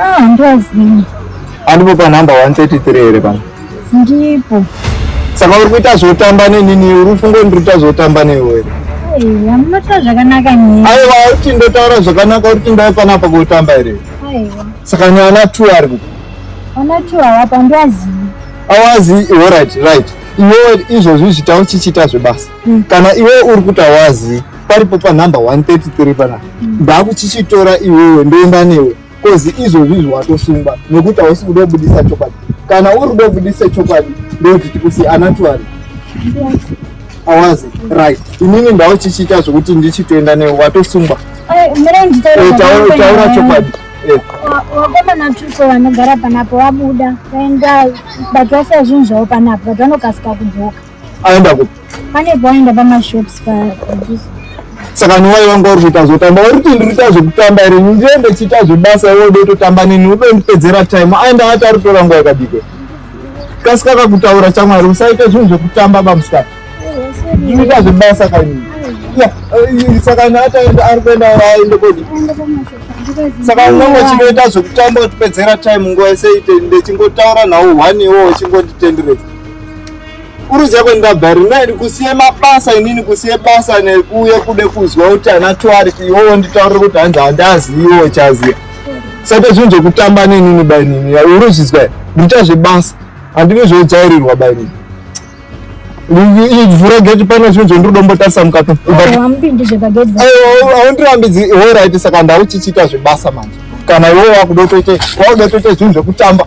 Ah, handiwazivi. Andipo pa number 133 here pano? Ndipo. Saka uri kuita zvotamba nenini uri kufunga kuti ndiri kuita zvotamba newe here? Aiwa, munotaura zvakanaka nini? Aiwa, uti ndotaura zvakanaka uri kuti ndave panapa kotamba here? Aiwa. Saka ni ana two ari kupi? Ana two havapo handiwazivi. Awazi, all right, right. Iwewe izvozvi zvita uchichita zvebasa. Hmm. Kana iwe uri kuti awazi paripo panumber 133 pana ndakuchichitora iwewe ndoenda newe kozi izvozvi zviwatosungwa nekuti hausi kuda kubudisa chokwadi kana uri kuda kubudisa chokwadi ndokuti tikusi anatuari awazi right inini ndauchichiita zvekuti ndichitoenda newe watosungwa taura chokwadi vakomana tuso vanogara panapo vabuda vaenda but vasiya zvinhu zvavo panapo but vanokasika kudzoka aenda kupi pane boenda pamashops pajusa saka niwai vanga uri kuita zvotamba uri kuti ndiri kuita zvekutamba here ndiye ndichiita zvebasa iwe ude totamba nini ude ndipedzera time aenda ati ari kutora nguva yakadike kasika kakutaura chamwari usaite zvinhu zvekutamba bamusikana ndikuita zvebasa kani eh, eh, saka naataenda ari kuenda aende kodi saka unenge uchingoita zvekutamba utipedzera time nguva yese ite ndechingotaura nhau one iwo uchingonditenderedza Kuruzi yako ndabva rina ndikusiye mabasa inini kusiye basa nekuuye kude kuzwa kuti ana twari iwowo nditaurire kuti hanzi handaziiwo chaziya saka zvinhu zvekutamba nenini bainini uruzvizwa ndita zvebasa handine zvodzairirwa bainini vhura geti pane zvinhu zvondirodombotarisa mukati aundirambidzi horaiti saka ndau chichiita zvebasa manje kana iwowo wakudotoite wakudotoite zvinhu zvekutamba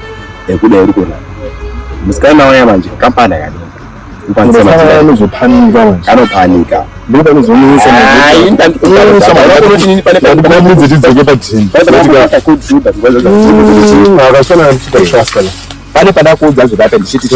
ekuda iri kuona musikana waya manje kampani akanopanika pane padakuudza zvokape ndichiti